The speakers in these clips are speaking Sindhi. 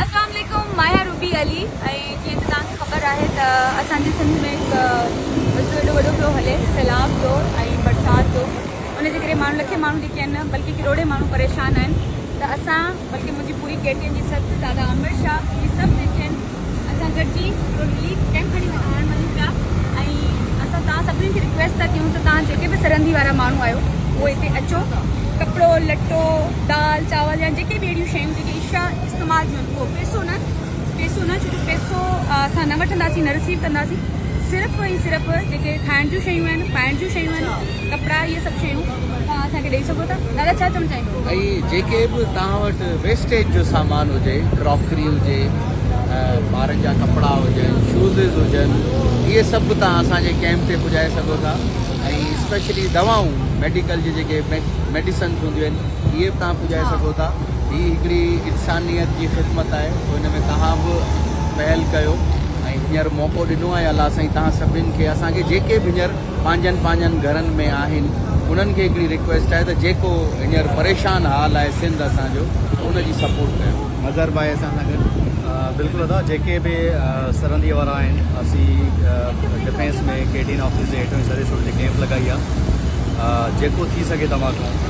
اسلام عليڪم ماهيا روبي علي ۽ جيئن ته توهان کي خبر آهي ته اسان جي سنڌ ۾ هڪ مسئلو ايڏو وڏو پيو هلي سيلاب جو ۽ برسات جو ان جي ڪري ماڻهو لکين ماڻهو جيڪي آهن بلڪه ڪروڙين ماڻهو پريشان آهن ته اسان بلڪه منهنجي پوري ڪيٽين جي سٿ دادا عامر شاهه هي سڀ جيڪي آهن اسان گڏجي هڪڙو رليف ڪئمپ کڻي هلڻ وڃون پيا ۽ اسان توهان سڀني کي رڪويسٽ ٿا ڪيون ته توهان جيڪي به سرندي وارا ماڻهو آهيو اهي هتي اچو ڪپڙو لٽو دال چاول يا جيڪي به اهڙيون شيون جيڪي عشا استعمال ٿيون اهو پيسو نه پيسو نه ڇو جو پيسو اسان نه وٺنداسين نه رسيو ڪنداسين صرف ۽ صرف جيڪي کائڻ جون شيون آهن پائڻ جون شيون آهن ڪپڙا اهي سڀ شيون توهان اسان کي ڏئي سگهو ٿا دادا ڇا چوڻ چاهيندو. ۽ جيڪي به توهان وٽ ويسٽيج جو سامان هجي ڪراڪري هجي ٻارن جا ڪپڙا هجن شوزز هجن اهي سڀ به توهان اسان جي ڪيمپ تي پڄائي سگهو ٿا ۽ اسپيشلي دوائون ميڊيڪل جي جيڪي ميڊيسنس هونديون آهن اهي به توهان پڄائي سگهو ٿا هي هڪڙي انسانيت جي خدمت آهي سو ان ۾ توهان به پهل ڪيو ۽ هينئر موقعو ڏنو آهي الله سائين توهان سڀني کي اسان کي جيڪي به هينئر پنهنجن پنهنجن گهرن ۾ آهن انهن کي هڪڙي ريڪويسٽ آهي ته جيڪو هينئر پريشان حال آهي سنڌ اسان جو ته ان جي سپورٽ ڪيو. مظهر ڀائي اسان سان گڏ. بلڪل ادا جيڪي به سرندي وارا آهن اسين ڊفينس ۾ ڪيٽين آفيس جي هيٺون سريس روڊ تي ڪيمپ لڳائي آ جيڪو ٿي سگهي توهان کان.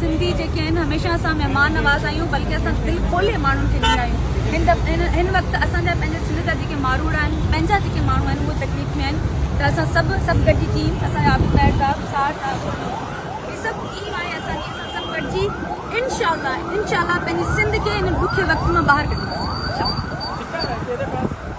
سنڌي جيڪي آهن هميشه اسان مهمان نواز آهيون بلڪه اسان دل کولي ماڻهن کي ڏيندا آهيون هن وقت اسان جا پنهنجا سنڌ جا جيڪي ماروئڙا آهن پنهنجا جيڪي ماڻهو آهن اهي تڪليف ۾ آهن ته اسان سڀ سڀ گڏجي ٽيم اسان جا عابد مهر صاحب سار صاحب هي سڀ ٽيم آهي اسان جي اسان سڀ گڏجي انشاءالله انشاءالله پنهنجي سنڌ کي هن ڏکي وقت مان ٻاهر ڪڍنداسين انشاءالله